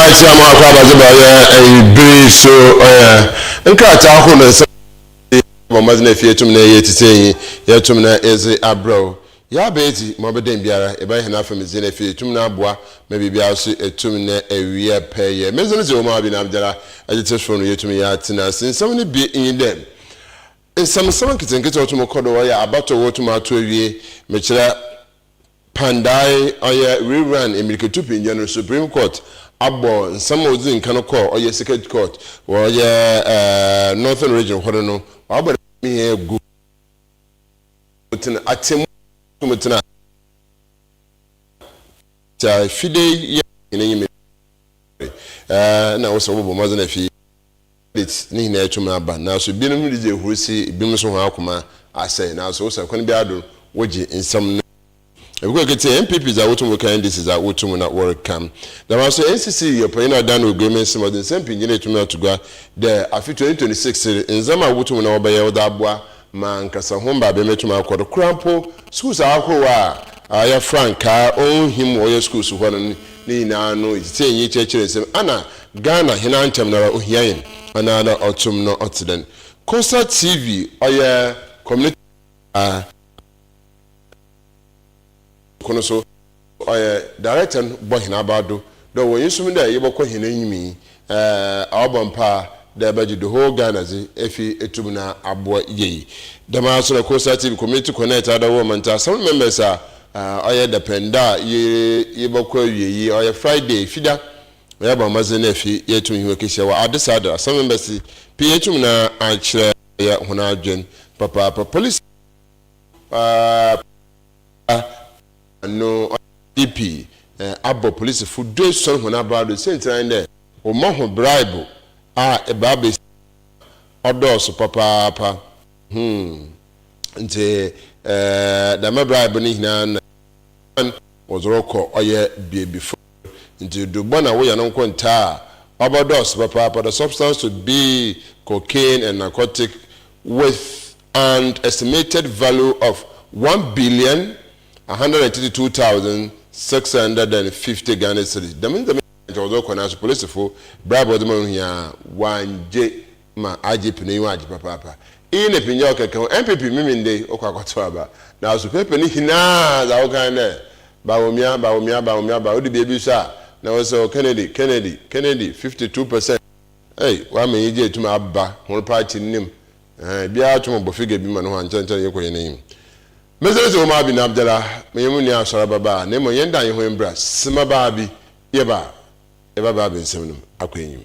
yɛakyerɛ ama akɔ abadze ba yɛ ebiri so ɔyɛ nkrataa ahorow na nsɛm bɔ mbɔdzen na efie tum na ɛyɛ tsitsi enyi yɛtum na edze abrɛ wo yɛ aba edzi ma ɔbɛdɛn biara ebɛyɛ hɛn afamdzi na efie tum na aboa ma biribiara so etum na ewie pɛ yɛ medze no dze wo ma abi na abdara ɛdze tse sor no yetum yɛ atsena ase nsɛm no bi nye dɛ nsɛmnsɛm nketsenketse ɔtum kɔ do ɔyɛ abatow wotum ato ewie mekyerɛ Pandai ɔyɛ rerun emirikatu pngyɛ no Supreme Court abɔ nsɛm a odzii nkan kɔ ɔyɛ Circuit Court wɔ ɔyɛ Northern Region hɔ no no ɔabɔ dɛm nsɛm yi egu mutsen atsemuyi a wotum tsena ase a Fidei yɛ hɛn enyim yi do. Nna ɔwɔ dɛ wɔbɔ mbɔdzen dɛ Fidei. Credit ne nyinaa etum aba naaso binom dze ehurusi, binom so hɔn akoma asɛɛ naaso osian kwan biara do no wogye nsɛm no dzi. Ebɛkɔ eketsie NPP dza wotum reka, NDC dza wotum na wɔreka. Dɛmara so NCC yɛ panyin a ɔdan no oguai ma nsɛm a ɔdze nsɛmpii nyinaa etum ato gua dɛ afe twenty twenty six ndzɛmba a wotum na wɔbɛyɛ wɔdze aboa M'ankasa ho mbadwen metum akɔ do koraa mpo, skuls ahorow a ɔyɛ frankaa onnhim wɔ ɔyɛ skuls hɔ no ne nyinaa no etsitsir enyi kyerɛkyerɛ nsɛm. Ana Ghana hen ara nkyɛm noara ohia hɛn? Ana ana ɔtom no ɔtse dɛn? Costa TV ɔyɛ community. kor no so, ɔyɛ director no bɔ hɛn abaw do dɛ ɔwɔ hɛn som dɛ yɛbɔkɔ hɛn enyim yi, aɔbɔ mpaa dɛ ɛbɛgye the whole Ghana dze efi etum na aboa yie. Dɛmara so na Consultative Committee Connect Adawoo Ɔmantam Assembly members a ɔyɛ dapɛn da a yebɔkɔ ewie yi, ɔyɛ Friday, Fida, yɛabɔ mbɔdzen dɛ efi yeetum nye hɔn ekehyia wɔ Adesada. Assembly members pii etum na akyerɛ hɔn adwen papaapa. Police. no IGP abɔ polisifo duesuon hɔn abaa do. Siantsir ara nye dɛ, wɔma hɔn braibo a ebiabesi a ɔdɔɔ sõ papaapa. Hmmm, ntsi dɛm braibo no nyina na wɔdze rokɔ ɔyɛ beebi fofor. Ntsi dur bɔn a wonya no nko ntaa a, ɔbɔdɔɔso papaapa dɛ substance to be cocaine and narcotic with an estimated value of one billion, one hundred and thirty two thousand, six hundred and fifty Ghana cedis. Dɛm ndzɛmba nyina nkyɛ wɔdze rokɔ naaso polisifo bribe a wɔdze ma no hia a wɔanngye. ma agye pene yi ho agye papaapa. Iyi na Pindjao kɛkɛ ho, NPP meme ndɛ yi wɔkɔ akɔtow aba. Naaso paper ne nyina dza wɔkã nye dɛ Bawumia, Bawumia, Bawumia, Bawu Odu beebi so a na wɔsɛ o Kennedy, Kennedy, Kennedy, fifty two percent. Ei, wɔama enyigye etum aba hɔn party no mu. Eeh, biara tum bɔ figure bi ma noho a nkyɛr nkyɛr yekɔ hɛn enyim. Mese se Omar bin Abdallah, menye mo nua Asɔr aba baa na mbom yɛnda hɛnho mbra sema baa bi yɛba a yɛbɛba abensɛm no mu akɔ enyim.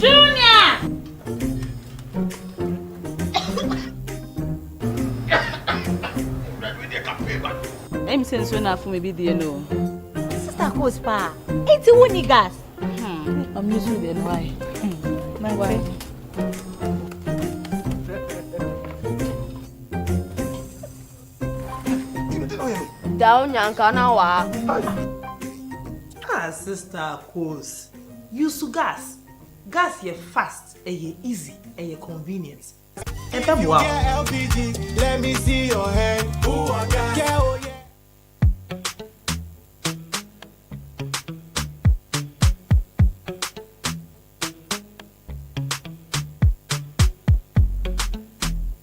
Junior! Ɛyɛ mi sɛ nsuo na afo mi bi die no. Sista Kos paa, eti wo ni gas? Ɔmi nsuo deɛ no ayɛ. Daw nyanka na waa. Ah sister Akos use gas, gas yɛ fast, ɛyɛ easy, ɛyɛ convenient, ɛbɛboa wo.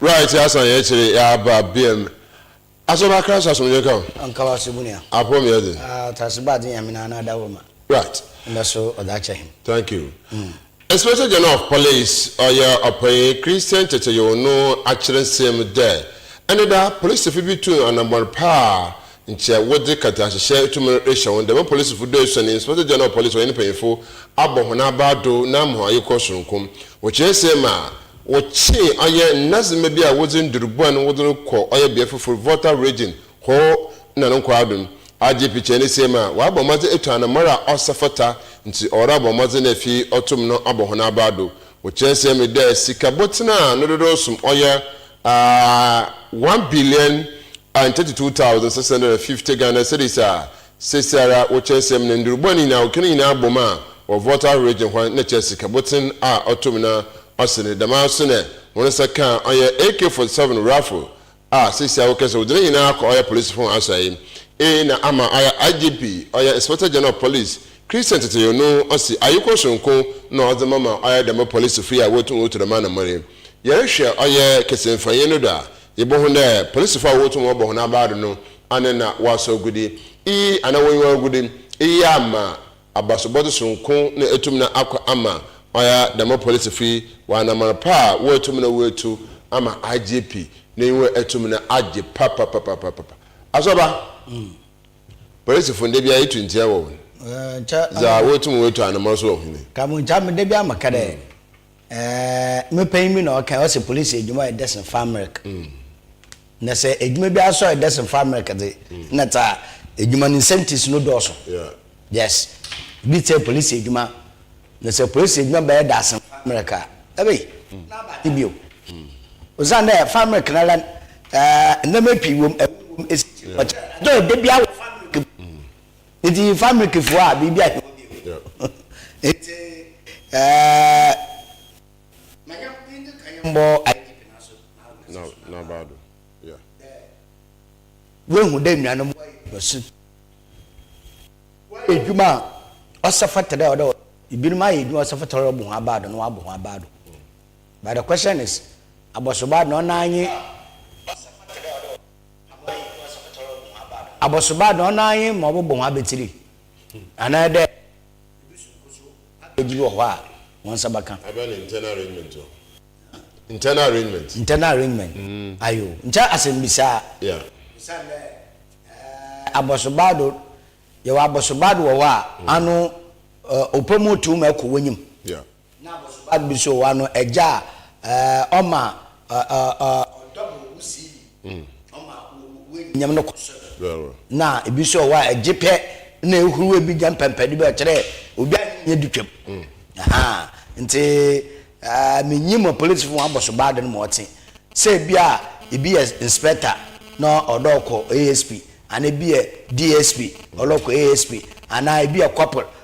Bra yɛte asa na yɛkyere yɛaba biam Asɔ na akra sɛ asomdwe nka wo. Nka wo ase bunua. Apɔ me ɛde. Ah ɔtase ba ade nyame na ana ada wo ma. Right. Ndɛ so ɔda akyɛ he. Thank you. Mm. Inspector General of Police ɔyɛ ɔpanyin Christian Kyekyeyow no akyerɛ nsɛm dɛ ɛnnɛ da polisifo bi tuu anambɔn pa a nkyɛ wɔdze kɛntɛahyehyɛ tum rehyɛ hɔn. Dɛm polisifo do esuon Inspector General of Police ɔnye ne mpanyimfo abɔ hɔn abaa do na ama hɔn ayekɔ soronko. Wɔkyerɛ nsɛm a. Wɔkye ɔyɛ ndasima bi a wɔdze ndur bɔn wɔdze no kɔ ɔyɛ bea fofor, Volta Region, hɔ na no nkwaa do no. Adze pikyɛɛ ne siam a, ɔabɔ mbɔdzen etu anamar a ɔsɛ fata, ntsi ɔwɔrow abɔ mbɔdzen dɛ fi ɔtom no abɔ hɔn abaa do. Wɔkyerɛ siam yi dɛ sika bɔtsen a no dodow som ɔyɛ one billion and thirty two thousand six hundred and fifty Ghana cedis a Sesɛara wɔ kyerɛsɛm no ndurubɔ ne nyina ɔkena nyina abɔ mu a wɔ Volta region hɔ no na kyerɛ sikabotsen a ɔto mu na ɔsen no, dɛm ara so na hɔn nsa kã ɔyɛ AK-47 raffle a sesei a wɔkã dɛ wɔdze ne nyina akɔ ɔyɛ polisifo hɔn asoɛe A na ama ɔyɛ IGP ɔyɛ Inspector General of Police Christian Tetteyou no ɔse ayekɔ soronko na ɔdze ma ma ɔyɛ dɛm polisifo yi a wotum wotu dɛm anamɔn yi. Yɛrohwɛ ɔyɛ kɛsenfanyi no do a yebohu dɛ polisifo a wotum wɔbɔ hɔn abaa do no Ana na wɔasɔ agude iyi anaa wonnyi agude iyi amma abasobɔdze soronko na etum na akɔ ama ɔyɛ a dɛm polisifo yi wɔanaman pa a woetum na woetu ama IGP n'enyiwa etum na agye papapapapapa? Asɔba polisifo nda biara itu ntsia wɔ hɔn dza wotum woetu anaman so wɔ hɔn yi. Ka mo nkyɛ a me da biara meka dɛ. Me panyin bi na ɔkae, ɔse polisi edwuma yɛ dɛsen fa mberk. Na sɛ edwuma biara so a ɔyɛ dɛsen fa mberk dze, nna dza edwuma no incentives no dɔɔ so. Yes, bi tse polisi edwuma, na sɛ polisi edwuma bɛyɛ dɛasen fa mberk a, ebei, nna aba adze bio. Osiandɛ fa mberk no ara, ndzɛmba pii wɔ mu, awu wɔ mu, esikyire, ɔkyɛr, adze a ɔyɛ da biara wɔ fa mberk mu. Nti yɛfa milk foɔ a biribi ahe hɔ bio. Nti ɛɛ manya yɛnka ka yɛn bɔ IDP na so na so na baa do. Yeah. Wehu dɛ nuanom wɔ yɛ basu. Wɔ yɛ dwuma a ɔsɛ fata dɛ ɔdɛ ebinom ayɛ dwuma ɔsɛ fata ɔdɛ ɔbɔ ho abaa do na wabɔ ho abaa do. But the question is abɔso baa do na ɔnaa nye. Abɔsoba do, ɔno ara nye ma ɔbɔbɔ hɔn abetsir, anaa dɛ obosu nkoso package bi wɔ hɔ a hɔn nsa bɛka. Abɛn no internal arrangement o. Internal arrangement. Internal arrangement, aye o. Nkyɛ asɛmbisa. Yeah. Osiandɛ ɛɛ abɔsoba do, yɛwɔ abɔsoba do wɔ hɔ a ano ɔpɛ mu tum kɔ w'enyim. Yeah. Ná abɔso ba bi nso wɔ hɔ, ano agya a ɔma ɔdɔ bo wusiw bi, ɔma w'anuonyam no kɔ soro. Ná ebi nso wɔ hɔ a, gye pɛ na ehuruw ebi nya mpɛmpɛnde bi a ɔkyerɛ obi a ne nyɛ di twam. Enti minnyim apolisifo hɔn abɔso ba do no ma ɔtse sɛ bi a bi yɛ inspector na ɔdɔɔkɔ ASP, anaa bi yɛ DSP ɔdɔɔkɔ ASP, anaa bi yɛ corporal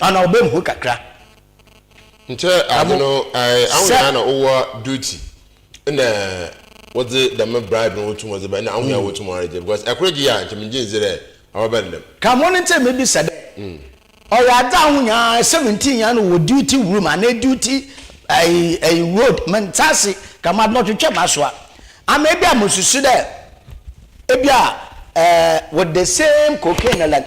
Ana ɔbɛ mu hɔ kakra. Nkyɛ adze no ae aho nyinaa na ɔwɔ duty na wɔdze dɛm bribe no wotum wɔdze bɛ na aho nyinaa wotum wɔregye because ɛkor gye a nkyɛ mengye ndzi dɛ ɔbɛba no dɛm. Ka ho no ntsi mebisa dɛ ɔyɛ adze aho nyinaa seventeen nyinaa na ɔwɔ duty room anaa duty ae road menntse ase ka ma mɔtwetwe masoa ama ebia mosusu dɛ ebia eh with the same cocaine na like.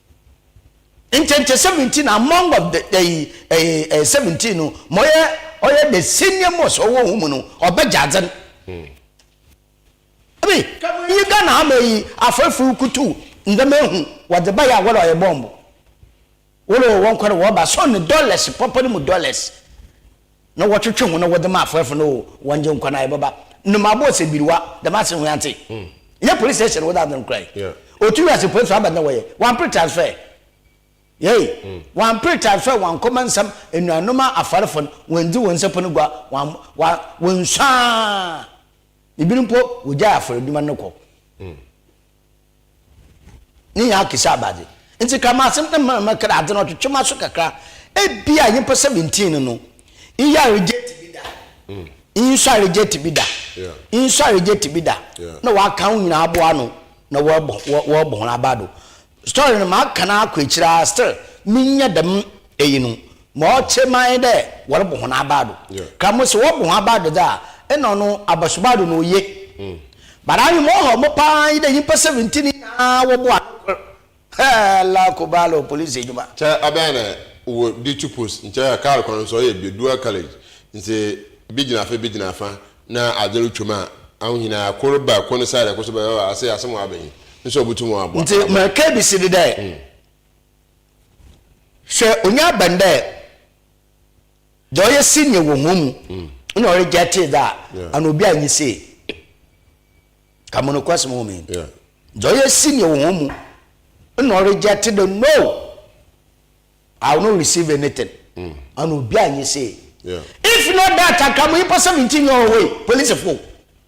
Ntɛntɛ seventeen among of the ɛyi ɛyi ɛɛ seventeen no ma ɔyɛ ɔyɛ the senior most ɔwɔ wɔn mu no ɔbɛ gya adze no. Ɛbi kɛmɛ yi Ghana ama yi afɔrifo kutu ndɛm ehu wɔdze ba yɛ a wɔlɔ yɛ bɔmbo wɔlɔ wɔn kɔrɔ wɔba sɔn ne dollars pɔpɔ ne mu dollars. na wɔtwetwe ho na wɔdze ma afɔɛfo no o, wɔnngye nkwa na yɛbɛba. Nnomaa bɔɔ sɛ biriwa, dɛm ase hwee antse. Nnyɛ police station no wɔdze adze no korae. Otu wiase poe so aba no na wɔyɛ. Wɔammper transfer. Yei, wɔammper transfer wɔannkɔma nsɛm enuanom a afarfo no, wɔanndzi hɔn nsapɔn gua, wɔamm, wɔa, wɔannsuaa. Binom mpo, wɔgyae afɔr edwuma no kɔ. Ne nyinaa ke sɛ aba dze. Ntsi kra m'asem na mma mma kra adze no ɔtwetwe m'aso kakra. Ebia nyimpa seventeen no no, iyi a reject bi da, iyi so a reject bi da, iyi so a reject bi da, na wɔaka hɔn nyina aboa ano na wɔrobɔ wɔrobɔ hɔn aba do. Story no, maka no akɔ ekyir ara still, minnya dɛm eyi no. Ma ɔtse man dɛ wɔrobɔ hɔn abaado. Ka mo se wɔbɔ hɔn abaado dze a, nna ɔno abasubaado na oye. But ahwɛ ma ɔhaw mo paa nye dɛ nyimpa seventeen nyina wɔboa ano kor. Hala Kubalo Police edwuma. Nkyɛ aban na wɔ di tu post nkyɛ kaar kwan no so ɔyɛ bi dual carriage ntsi bi gyina fa bi gyina fa na adze rotwa mu a aho hina a kor ba kor ne side a kor so ba ɔyɛ ɔɔ ase asɛm ɔaba yi nso obotum ɔaboa. Ntsi ma kebisi de dɛ. Hwɛ onuaban dɛ dza ɔyɛ senior wɔ hɔn mu nna ɔregyɛtee dza ana obi annye sei. Ka mo nokwasɛm wɔ mu yi. Yeah. Dza ɔyɛ senior wɔ hɔn mu nna ɔregyɛte dɛ no, I will not receive anything. Mm. Ana obi annye sei. Yeah. If not that anka mo nyimpa seventeen nyɛ ɔwɔ wei, polisifo.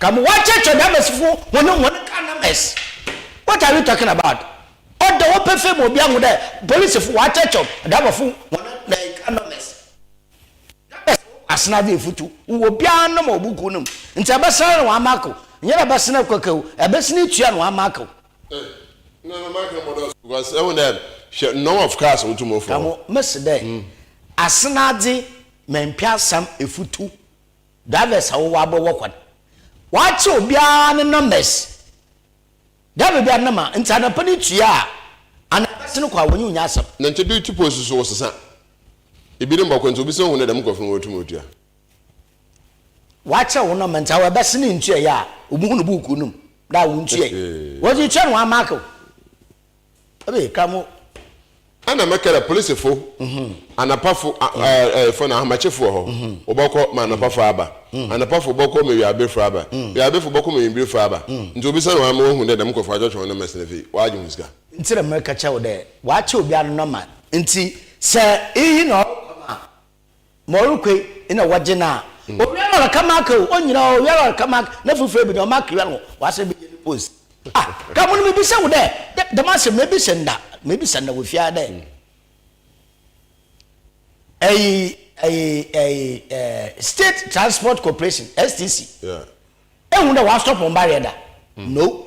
Ka mo wa kyerɛkyerɛ nɛmɛs fo hɔn mu hɔn ka nɛmɛs what are you talking about ɔda hɔ pefee ma obia hu dɛ police fo wa kyerɛkyerɛw daba fo hɔn nɛɛ ka nɔmɛs nɛmɛs wɔ wɔ asena dze efutu wɔ wɔ bia no ma wɔ buku no mu ntsi ɛbɛsena no wa ma kow nyɛ dɛ ɛbɛsena kwɛkɛw ɛbɛsena etua no wa ma kow. Ka mo mese dɛ asena dze mɛmpɛ asɛm efutu Drivers a wɔwɔ abɔ wɔ kwan. Wɔakyɛ obiara ne numbers. Driver biara ne number. Nti anɔpa no tua a, anaa bɛse no kɔ a, wɔnye wo nyɛ asɛm. Na nkyɛ bi tipo nso so wɔsesa. Ebi ne mbɔkɔ nti obi se ohu ne dɛm nkorɔfo no wotum otua. Wɔakyɛ wo number nti awɔ ɛbɛse no nntuaeɛ a, obi hu no buukuu no mu dɛ a wontuae. Wɔdze tua na wɔamarke wo. Ɛbɛyɛ ka mo. Ɛna mɛka dɛ polisifo, anapafo fo na ahomakyefo wɔ hɔ, wɔbɔkɔ ma anapafo aba, anapafo bɔkɔ ma wiawbefo aba, wiawbefo bɔkɔ ma wimbirefo aba, ntsi obi san wɔ ha ma oehu dɛ dɛm nkorɔfo wɔatwetwe hɔn mbasin afei wɔagye hɔn sika. Ntsi na mɛka kyerɛ wo dɛ wɔakyɛ obiara no nɔma. Ntsi sɛ iyi na ɔrokɔ ma Ma ɔrekɔe na wɔgye no a, owia lɔre ka mark o, onyina o, owia lɔre ka mark, na foforo bi no mark wia no, wɔasan bɛyɛ no pose. Ah, ka mo no mebisa wo dɛ, dɛ, dɛm asɛm no mebisa nda, mebisa nda wɔ fie ha dɛ, ɛyi, ɛyi, ɛyi, ɛɛ, State Transport Corporation, STC, yeah. ehu dɛ wɔasɔpɔ mbareɛ da? Mm. No.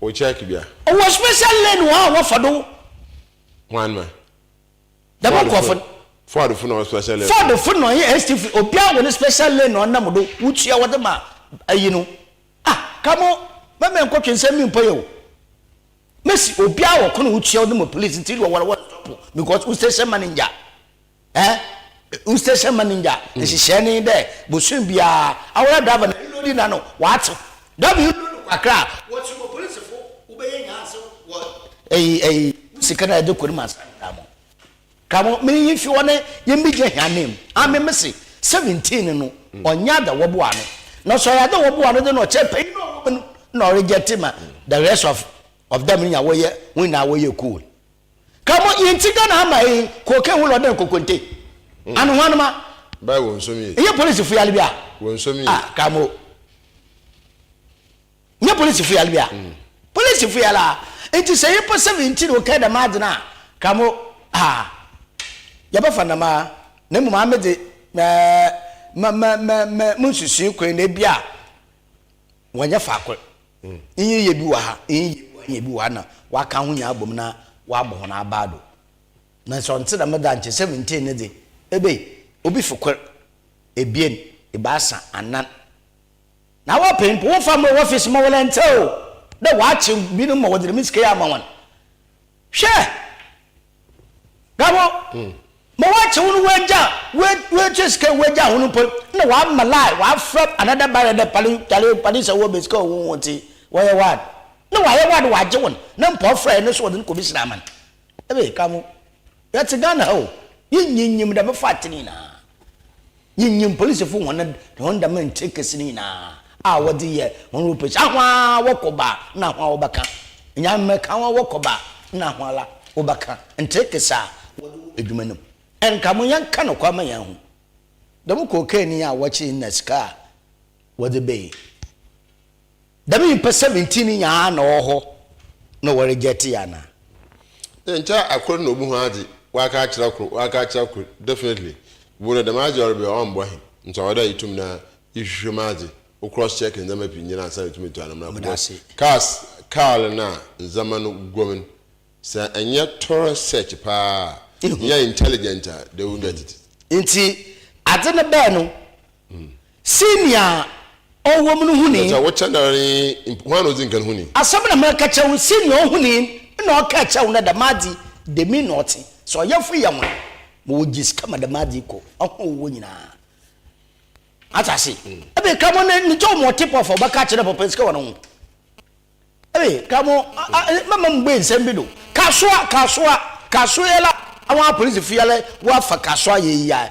Wo check bia. Ɔwɔ special lane wɔ ha a wɔfa do. Hwan ma? Dɛm nkorɔfo no. Ford fo na ɔwɔ special lane. Ford fo na ɔyɛ ST fo obiara wɔ ne special lane na ɔnam do wotua wɔde ma ayi no ah kamo mɛmɛ nkɔ twe nsɛm mi mpɔ yɛ o mɛsi obiara wɔ ko na wotua wɔde ma police nti wɔwɔ wɔ stop because wo station manager. Eh, wo station manager nhyehyɛɛ mm. ne dɛ bosoom biara awɔra driver na elodi na no wɔatew driver yi lodi kakra a wɔkyi wɔ polisifo wobɛyɛ nyanse wɔ ɛyi ɛyi sika na ɛde kɔ ne ma nsa kramo kramo mene yi fi hɔ ne yɛ mi gyina hia nam ame me se seventeen no ɔnya mm. da wɔboa no na sɔ yɛ da wɔboa no de na ɔkyɛ pɛyi na ɔwɔ no na ɔregyɛ te ma the rest of of them nya wɔyɛ wɔn nyinaa wɔyɛ cool Kamo yɛ nti Ghana ama eyi cocaine ho lɔdɛ nkokonte. Ano ho anoma. By wɔn nsom yie. Nyɛ police fo yale bi a. Wɔn nsom yie. Ah kamo. Nyɛ police fo yale bi a. Police fo yale a. Nti sɛ yɛ pɛ sɛ bi nti na ɔkɛ dɛm adze no a kamo ah. Yɛ bɛ fa nam a. Na mmom ame dze mɛ mɛ mɛ mɛ mɛ mo nsusui kwan na ebi a. Wɔnyɛ faako. Iyi yɛ bi wɔ ha, iyi yɛ bi wɔ ha, iyi yɛ bi wɔ ha na wɔakã ho nyina abɔ mu na wɔabɔ hɔn abaa do. Naaso ɔnntse dɛm da nkyɛ Seventeen no dze, ebe obi fi kor, ebien, ebiasa, anan, na awɔpɛ mpo, wɔmmfa mma wɔ office mma wɔlɛntsɛw dɛ wɔakye binom ma wɔdze dɛm sika yi ama hɔn. Hwɛ! Gabo, ma wɔakye wo no woagya, woatua sika yi woagya ho no mpo, na wɔama lie, wɔafrɛ another barrier dɛ pale, kyale, pale sɛ wowɔ bɛsika o, wonwo nti wɔyɛ wad. Na wɔayɛ wad wɔagye wo no, na mpo ɔfrɛɛ no nso wɔde no kɔbɛhyira ama no. Ɛbɛyɛ ka mo, yɛte Ghana ha o, yɛnnyinnyim da, mɛfa ate no nyinaa. Yenyim polisifo hɔn hɔn dɛm nkyɛ ekesi no nyina a wɔdze yɛ hɔn operation. Ahoa wɔkɔ ba na ahoa wɔbɛka. Nyame mmɛka ahoa wɔkɔ ba na ahoa la wɔbɛka nkyɛ ekesi a wɔdze wɔ edwuma no mu. Nka mo yɛnka nokwar ma yɛahu dɛm cocaine yi a wɔkyee no na sika a wɔdze bae yi. Dɛm nyimpa seventeen yi nyinaa na ɔwɔ hɔ na wɔrejɛɛte yɛ anaa? Nkyɛ akor na obohu adze, ɔaka akyerɛ kor, ɔaka akyerɛ kor, definitely bo no dɛm adze a ɔreba yi ɔmmbɔ hen, ntsi ɔwɔ dɛ itum na ihwehwɛ mu adze, wo cross check ndzɛmba pii nyina ansaana etum etu anamɔn akɔ bcos cars kaar no a ndzɛmba no gu mu no sɛ ennyɛ thorough search paa a, nnyɛ intelligent a they won't get it. Ntsi adze no bae no Sei nea ɔwɔ mu no hu ni. Sɛ wokyɛ no ara yi, hwan na odzi nkan hu ni? Asɛm na mereka kyerɛ wo, sei nea ɔhu ni na ɔkaa kyerɛ wo no, dɛm adze dɛm na ɔtse. Sɛ ɔyɛfo yɛ hwan, ma wogye sika ma dɛm adze yi kɔ ahɔho a ɔwɔ nyina. Atse ase? Ebɛn nkramoh na ne tɔw ma ɔtse pɔf a ɔbɛka akyerɛ dɛ papa sika wɔ no ho? Ebɛn nkramoh, mɛma mubue nsɛm bi do. Kasoa, kasoa, kasoa yɛ la, awan apolisifoɔ yɛ la, wɔafa kasoa yɛ yi a.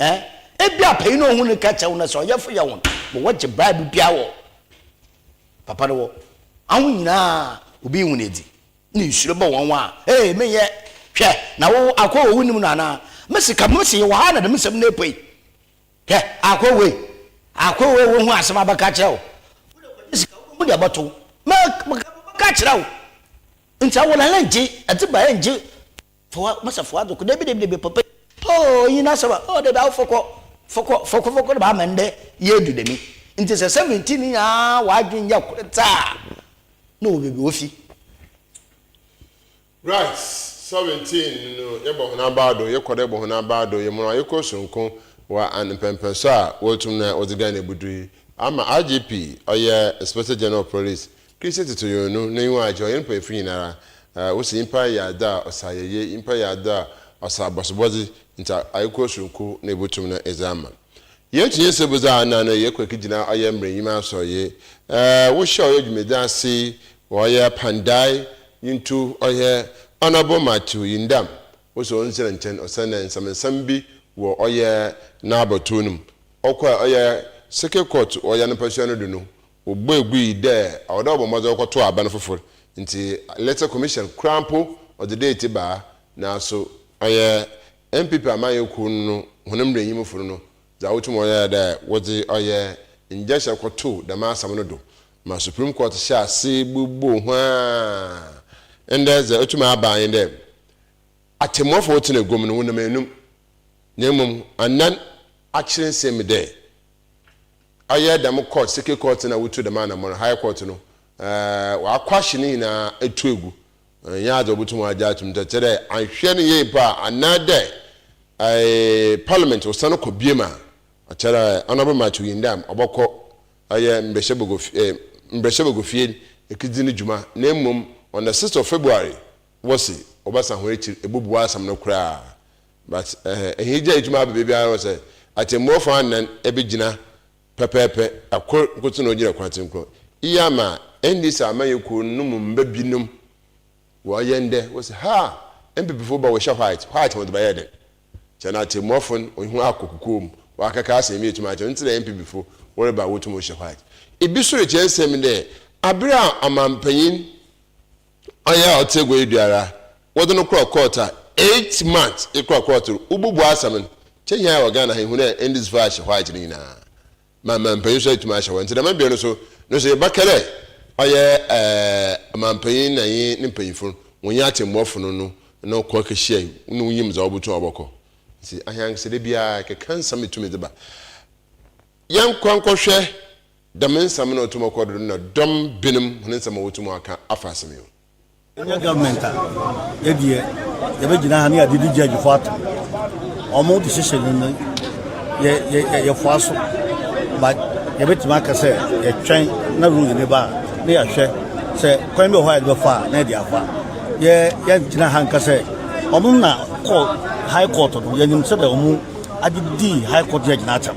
Ɛɛ, ebia panyin a ohun no ka kyerɛ wo no sɛ ɔyɛfo yɛ wɔn, ma wɔgye Bible biara wɔ papa no wɔ. Aho nyinaa obi yi wɔn adi. Ne nsuro bɔ wɔn a, ee, menyɛ, hwɛ, na wo akoa wɔ wonim no anaa? Me sika, me se yɛwɔ ha na dɛm nsɛm no apue. Hwɛ, akoa wei, akoa wei wohu asɛm abɛka kyerɛ wo. Wode sika wobɛhu deɛ ɛbɛto wo. Mɛka kyerɛ wo. Nti awolala ngye, ɛte ba ɛngye Foa, masa foa doko, debi debi debi papa yi, oh eyi n'asɛm a, oh debi awo fɔkɔ, fɔkɔ, fɔkɔ fɔkɔ na w'ama ndɛ yi edu dɛmi, ntsi sɛ seventeen no nyinaa w'adwen yɛ kor tse a, na ɔwɔ beebi ofi. Right, seventeen no yɛbɔ hɔn abaa do, yɛkɔ do yɛbɔ hɔn abaa do, yɛma no ayekor soronko wɔ an mpɛnpɛnso a woetum na wɔdze Ghana ebudu yi, ama IGP, ɔyɛ Inspector General of Police, Christ toto yɔn nu, n'enyiwa agye, ɔyɛ no panyimfo nyinara. Wose nyimpa yɛ adɔ a ɔsɛ ayɛyie, nyimpa yɛ adɔ a ɔsɛ abɔsobɔdze, ntsi aekɔ soronko na ebotum no edze ama. Yesu nye nsɛmbudze a ana no yɛkɔ ekegyina ɔyɛ mbrɛ enyim asɔr ye, wohyɛ ɔyɛ dwumadzi ase, ɔyɛ apandae, nyintu ɔyɛ Honourable Matthew Yindam wose ɔndzera nkyɛn osiandɛ nsɛmnsɛm bi wɔ ɔyɛ n'abatow no mu, ɔkɔr ɔyɛ Circuit Court ɔyɛ anapasua no do no Wɔbɔ agu yi dɛ ɔwɔ dɛ wɔbɔ mbɔdzen wɔkɔtow aban fofor ntsi Electoral Commission koraa mpo ɔdze date baa naaso ɔyɛ NPP amanyɛ kuw no no hɔn mbranyimfo no no dza wotum wɔyɛ nye dɛ wɔdze ɔyɛ ngyɛnhyɛ kɔtoow dɛm asɛm no do ma Supreme Court hyɛɛ ase boboo ho aa ndɛ dza otum aba nye dɛ atsemuafo a wɔtsena egua mu no wonam enum na mbom anan akyerɛ nsɛm mu dɛ ayɛ dɛm court seke court na wotu dɛm anamɔn high court no ɛɛ w'akwahye ne nyinaa etu egu nnyɛ adze obotum agye atum dɛ kyerɛ dɛ annhwɛ ne yie mpo a anaa dɛ ɛɛ parliament osan kɔ biem a kyerɛ dɛ honourable Matthew Yindam ɔbɔkɔ ɛyɛ mbrɛhyɛbagua fie ɛɛ mbrɛhyɛbagua fie ekedzi ne dwuma na mbom on the sixth of February wɔse wɔbɛsan hɔn ekyir ebobua asɛm no koraa But ɛhɛ ɛhe gya etumi aba baabi ara sɛ atɛmmu ɔfã anan ɛbɛgyina pɛpɛɛpɛ ɛkor nkoto na ɔgyina kwan tsenkron iyi ama NDC amanyɛ kuo no mu mba bi nom wɔ yɛ ndɛ wɔ sɛ ha NPP fo ba wɔ hyɛ white white wɔdze bɛyɛ dɛn kyɛ na atɛmmu ɔfo no wɔ ho akɔ kukuo mu wɔ akɛkɛ asɛn bi etumi akyɛ ntsi na NPP fo wɔ reba wotum wɔ hyɛ white ebi so rekyɛ nsɛm dɛ abre a amanpanyin Ɔyɛ a ɔtse egua yi do ara, wɔdze no kɔr kɔɔt a eight months ekɔr kɔɔt do wobubu asɛm no. Nkyɛ hɛn a yɛwɔ Ghana ha yi hu dɛ ndze faa ahyɛ hɔ adze no nyina ma mampanyin so etum ahyɛ hɔ ntsi dɛm mbea no so no so yɛbɛka dɛ ɔyɛ ɔmampanyin na nye ne mpanyimfo no wɔnye atsɛmbuafo no no no kɔ kehyiae na wonyim dza wobotum a wɔbɔkɔ ntsi aheankasa da biara kɛkã nsɛm etum dze ba. Yɛnkɔ nkɔhwɛ Dɛm nsɛm no a otum ɔkɔ do no na dɔm binom hɔn nsɛm a wotum ɔakã afa asɛm yi ho. Yɛnyɛ government a, yɛ deɛ yɛbɛgyina ha ne yɛade di judge fo ato ɔmo decision no no yɛ yɛ yɛfoa so but yɛbɛtumi aka sɛ yɛtwɛn na ruling no ba a ne yɛahwɛ sɛ kwan bi wɔ hɔ a yɛde bɛfa a na yɛde afa yɛ yɛngyina ha nka sɛ ɔmo na kɔ high court no yɛnim sɛdeɛ ɔmo agye di high court judge no atam.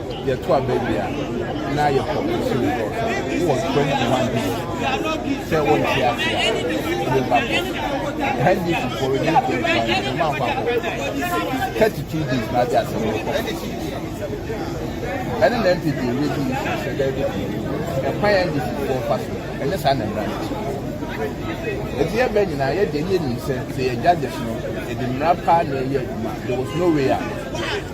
Yɛto aba wie a, na yɛkɔ nsu no hɔ. Wowɔ spring command bi sɛ wonte ase a, wode ba kɔ. Ɛha di fi for reduce the requirement, no mankɔ akɔ. 32 days na ade asɛm no kɔ. Ɛne na NPP redi nsu sɛ daabi ɛkwan a NDC fo fa so ɛnyɛ saa na mmara no kyerɛ. Eti yɛ bɛ nyinaa yɛ deɛ yɛ nim sɛ sɛ yɛ judges no yɛde mmara paa na ɛyɛ adwuma there was no way out.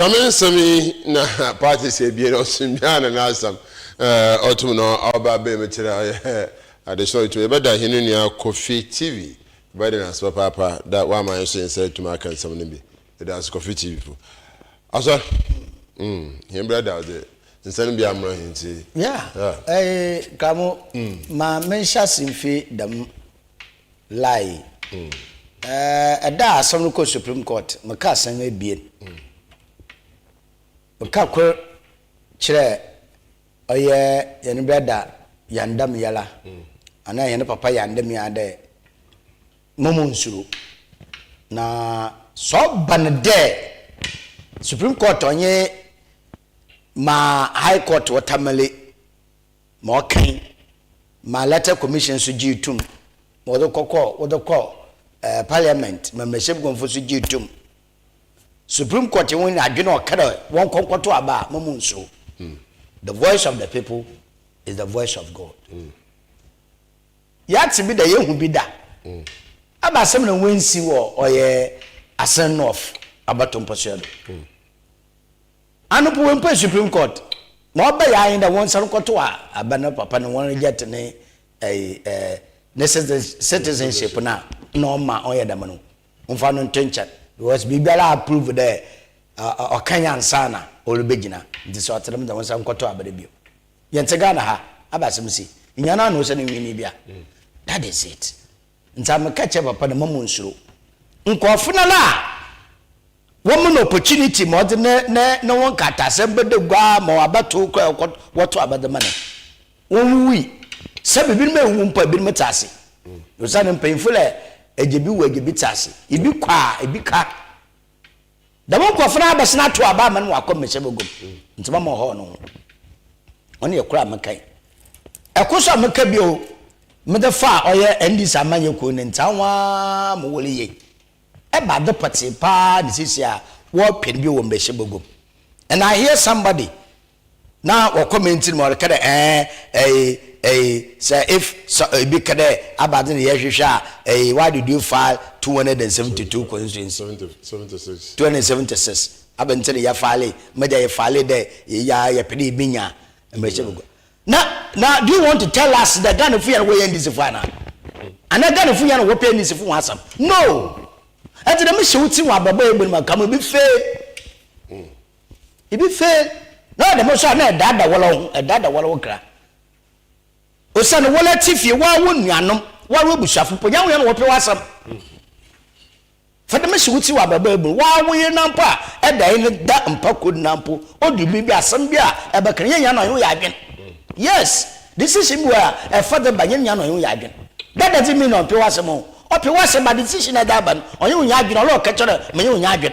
Same nsɛm yi na party sɛ bie na ɔsem biara na n'asɛm ɔtom na ɔba abɛn mu kyerɛ ɔyɛ adesoro ɔtumi yɛbɛda hene nua Kofi TV bɛde n'ase papaapa da wama yɛn so yɛn nsa atumi aka nsɛm no bi yɛda ase Kofi TV fo asɔ mm hɛn brada ɔde nsa no bi amra hɛn ti yeah ɛɛ kamo ma menhyɛ ase mfi dɛm Lai, Ɛɛ, da a asɛm no kɔɔ Supreme Court, mekaa asɛm abien. Meka kor kyerɛɛ ɔyɛ hɛn brɛda Yandam Yala anaa hɛn papa Yandam Yala dɛ mma monnsuro, na sɛ ɔba no dɛ Supreme Court ɔnye ma High Court wɔ tamale, ma ɔkɛn ma Electoral Commission so gyee tum ma wɔdze kɔkɔɔ wɔdze kɔɔ ɛɛ Parliament ma Mmarahyɛbguamfo so gyee tum. Supreme Court hɔn nyina adwen a ɔkã dɛ wɔnkɔ nkɔto aba a ma munnsuo. The voice of the people is the voice of God. Yɛatse bi da, yehu bi da. Aba asɛm na woennsi wɔ ɔyɛ Asen North abatow mpɔsoɛ do. Anɔpa wei mpo a Supreme Court ma ɔbɛyɛ ahe dɛ wɔnsan nkɔto a aba no papa no wɔn reject ne ɛyi ɛɛ ne citizenship no a na ɔma ɔyɛ dɛm no wɔmfa no nto nkyɛn because biribiara a prove dɛ ɔka yɛ ansa na ɔrebɛgyina nti sɛ ɔte dɛm deɛ wɔnsan nkɔto aba no bio yɛnte Ghana ha aba asɛm si nyanaa na ɔsɛ ne nwini bi a that is it. Ntsi meka kyerɛ papa no, mma munnsuro. Nkorɔfo no ara a wɔma no opportunity ma ɔdze ne ne no ho nkrataasɛm bɛda gua ma ɔabɛtow kora a wɔtow aba dze ma no, wonnwuwui. Sɛbe binom ewuwu mpo a, binom tse ase. Osiandɛ mpanyimfo dɛ, egye bi wu, egye bi tse ase. Bi kɔ a, bi ka. Dɛm nkorɔfo no abɛsen atow aba ama no ma ɔakɔ mbɛhyɛ bagua mu, ntsi mma monnhɔɔ no ho. Ɔno yɛ kor a mekã yi. Kor so a mekã bio, medze faa ɔyɛ NDC amanyɛ kuw no ntsi hɔn ara mowɔr yie. Eba adze pɔtsee paa na sesei a wɔrepɛ no bio wɔ mbɛhyɛ bagua mu. And I hear somebody na wɔkɔ me nti no ma ɔreka dɛ ɛɛ ɛyi ɛyi sɛ if sɛ ebi ka dɛ abadze na yɛhwehwɛ a ɛyi why did you file two hundred and seventy two constituency two hundred and seventy six abɛn ti na yɛ file ma gya yɛ file dɛ yɛ yɛ yɛpɛ dɛ ebi nya mmarahyɛ bagua na na do you want to tell us dɛ Ghana fo yɛ na wɔyɛ ndisifo ana ana Ghana fo yɛ na wɔpɛ ndisifo wɔn asɛm no ɛti dɛ mi hyɛ wo ti wɔn abɛbɔ yɛ bɔ ne ma kama bi fee. Ibi fe na ɔyɛ dɛm so a na ɛdaada wala wo ho, ɛdaada wala wo kra. Osiane wala tse fie, waa wo nuanom, waa wo ebusuafo mpo, nyɛ hɔn na wɔpɛ w'asɛm. Fa dɛm hyɛ wo tsir wɔ abrabɔ ebu, waa wo yer na mpo a ɛda yi no da mpa kor na mpo odu biribi asɛm bi a ɛbɛka no, nyɛ nyia na ɔnye wo yɛ adwen. Yes, decision bi wɔ hɔ a ɛfa dɛ ba, nyɛ nyia na ɔnye wo yɛ adwen. That doesn't mean na ɔmmpɛ w'asɛm o, ɔpɛ w'asɛm but decision a ɛda ba no ɔnye wo nnyɛ adwen, ɔlɔɔ kɛkyɛrɛ menye wo nnyɛ adwen.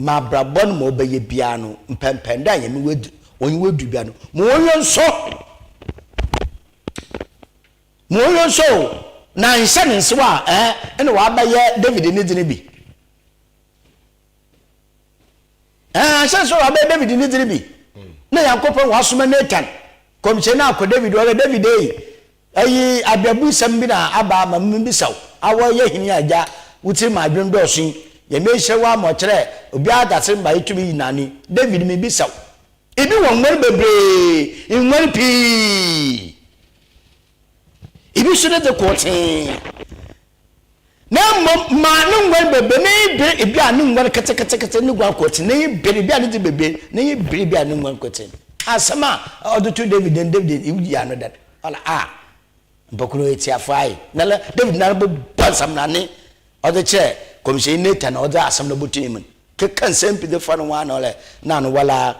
M'abrabɔ no ma ɔbɛyɛ biara no, mpɛnpɛn dɛ a Nyame w'edu, ɔnye w'edu biara no, ma ɔnyɛ nsɔ, ma ɔnyɛ nsɔ o, na annhyɛ no nsew a, ɛɛ, nna ɔabɛyɛ David ne dze no bi. Ɛɛ, annhyɛ no nsew a ɔabɛyɛ David ne dze no bi. Nna Nyankopɔn ɔasoma Nathan, nkɔmhyɛnyi no akɔ David hɔ dɛ, David ei, Eyi abɛbusɛm bi na aba ama mibisa wo, Awɔ yɛ hene a gya wo tsir ma adwen dɔɔso yi, Nyame ehyira wo ama ɔkyerɛɛ obiara dasir mbrɛ itum yi nane, David mibisa wo, ibi wɔ nguan beberee, nguan pii, ibi so ne dze kortsee, na mmom maa ne nguan bebe, ne bere ebi a ne nguan ketekete ne guan kɔtin, ne bere ebi a ne de bebe, ne bere ebi a ne nguan kɔtin. Asɛm a ɔde to David den, David ewu yɛ ano dada. Ɔla a mpɔkono etiafo ayɛ. Na la David nara bɔ bɔ nsɛm na ne ɔde kyerɛ kɔmhyɛni Nathan na ɔde asɛm no bɔto ne mu. Keka nsɛm pi de fa no ho ano ɔla na ano wala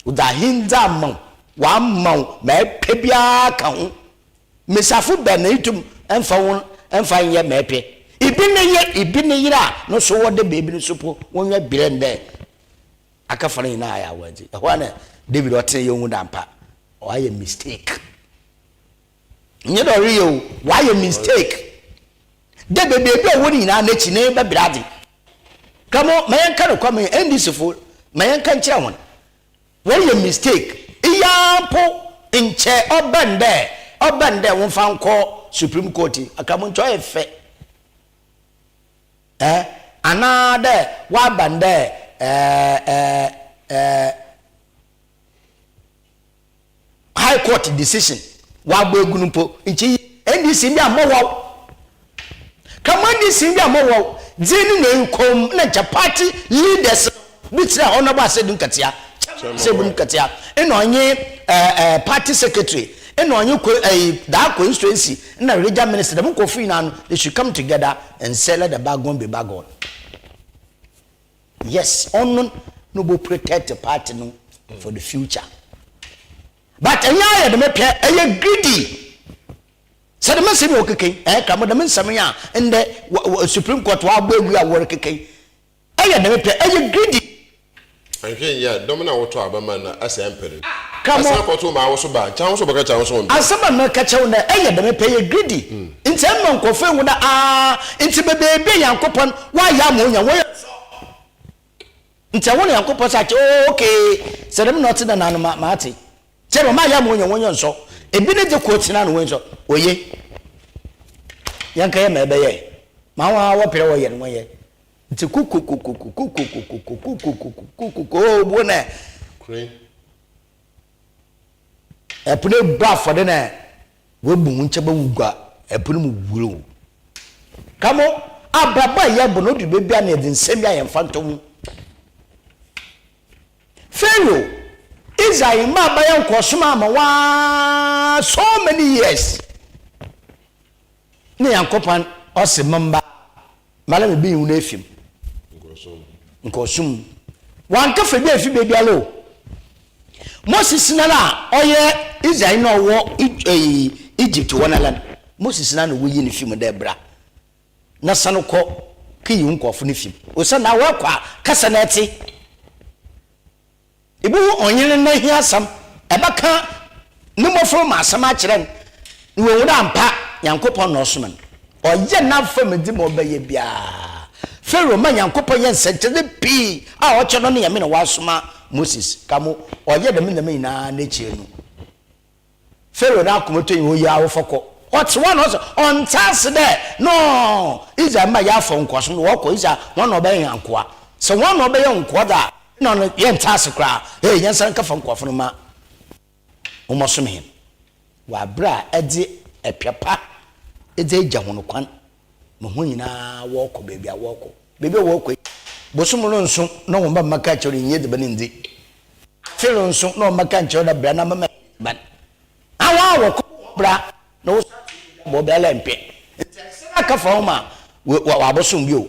ɔda ahendza ama wo, wama wo ma ɛpɛ biara ka ho. Mbesafo bɛ na itum mfa hɔn mfa nyɛ ma epɛ? Ibi ne yɛ, ibi ne yer a no so wɔ dɛ beebi no so po wonnya bire ndɛ akɛfa no nyina ayɛ awardze. Hɔ a na David ɔtsenee ohu dɛ ampa ɔayɛ mistake. Nnyɛ dɛ ɔreyɛ o, ɔayɛ mistake. Dɛ bɛ beebi a ɔwɔ no nyina n'ekyi no ebɛbrɛ adze. Kamo ma yɛnka nokwar ma NDCfo, ma yɛnka nkyerɛ hɔn. Wɔyɛ mistake yi ara mpo nkyɛ ɔbɛn dɛ ɔbɛn dɛ wɔmfa nkɔ Supreme Court yi akraman nkyɛ ɔyɛ fɛ eh anaa dɛ wɔaban dɛ eh eh eh high court decision wabɔ egu no mpo nti ndc ndi amɔwaw kama ndc ndi amɔwaw dzi ne na nkɔm na nkyɛ party leaders bi kyerɛ honourable asɛdu nkatia kyɛm sɛ bu nkatia ɛna ɔnye ɛɛ eh, eh, party secretary ɛna ɔnye ko ɛɛ eh, daa constituency ɛna region minister dɛm nkɔfo nyinaa no they should come together and say let the bygone be bygone. Yes ɔno na ɔbɔ protect party no for the future but ɛnyɛ ayɛ dɛm pɛ ɛyɛ greedy sɛ dɛm nsɛm yɛ ɔkeke ɛyɛ kra mo dɛm nsɛm yɛ a ndɛ supreme court wa abɔ agu a wɔre keke ɛyɛ dɛm pɛ ɛyɛ greedy. Anhwɛ nyɛ a dɔm no a wɔtɔ aba ma no asɛe ampere no Kra mo. bɛsan akɔto ma awoso ba nkyɛ awoso bɛka kyɛ awoso ɔnpɛ. Asɛm a mɛka kyerɛ wo ndɛ ɛyɛ dɛm pɛ ɛyɛ greedy. Ntsi mma nkorɔfo nnhu dɛ aah ntsi bebeebi a Nyankopɔn wɔayɛ ama onya no wɔyɛ nsɔw. Ntsi ɛhɔ na Nyankopɔn saa kyerɛ oh okay sɛ dɛm na ɔtse dɛn a ano ma matse. Kyerɛ dɛ ɔmayɛ ama onya no wɔnyɛ nsɔw. Ebi ne dze kɔ tsena no wɔnyɛ nsɔw. Oye. Yɛnkɛyɛ ma ɛbɛyɛ ma hɔn a wɔper dɛ wɔyɛ no wɔnyɛ. Ntsi kokokokoko kokokokoko kokokokoko kokokoko oh obuo nɛ. Kore Ɛpono ebu afɔde na wabu ho nkyɛ bɛwu gua ɛpono mu wuro. Ka mo abrabɔ a yɛbɔ no ɔduru baabi a na yɛde nsɛm bi a yɛmfa ntɔ mu. Pharaoh, Israel mmaa bɛyɛ nkɔɔsom ama waa so many years. Ne Nyankopɔn ɔse mo mma ma na mebeyi won afi mu nkɔɔsom mu. Wanka fɛ bi afi bɛbiara o. Mose sina no a ɔyɛ Israel na ɔwɔ Egypt hɔ nala no, Mose sina na woyi no fi mu dɛ bra na sane kɔ kɛyi wo nkɔɔfo no fi mu. Osiane na woakɔ a kasa na ɛte. Ibohu ɔnye no n'ehiasɛm, ebɛkã no mbofra mu asɛm akyerɛ no, na oehu dɛ ampa Nyankopɔn na ɔsomaa no. Ɔyɛ n'afɛmdzi ma ɔbɛyɛ biara. Pharaoh ma Nyankopɔn yɛ nsɛnkyerɛdze pii a ɔkyerɛ no ne Nyame na ɔasoma Moses, ka mo ɔyɛ dɛm ndzɛmba nyina n'ekyir no, Pharaoh n'akomato nye oye awofo kɔ. Ɔtse hɔ a na ɔse ɔnntse ase dɛ no Israel mba yɛafa nkoasom do, wɔkɔ Israel hɔn na wɔbɛyɛ hɛn nkowa. Sɛ hɔn na wɔbɛyɛ nkowa dze a, nna ɔno yɛnntse ase koraa. Hey, nyansa nka fa nkoafo no ma wɔmbɔsom hɛn wɔ aber a edze ɛpɛ pa dze egya hɔn kwan mo ho nyinaa wɔɔkɔ baabi a wɔɔkɔ. Baabi a wɔɔkɔ yi, bosoom no nso na wɔn ba mma ka nkyɛw dɛ nyi edziban ndzi. Afe no nso na wɔn mma ka nkyɛw dɛ bra na mɛma enye edziban. Na hɔn a wɔkɔ no wɔbra, na woso afe yi dɛ wɔbra lɛ mmpɛ. Ntsi ahyɛsɛm akã fa hom a wɔabosoom bio.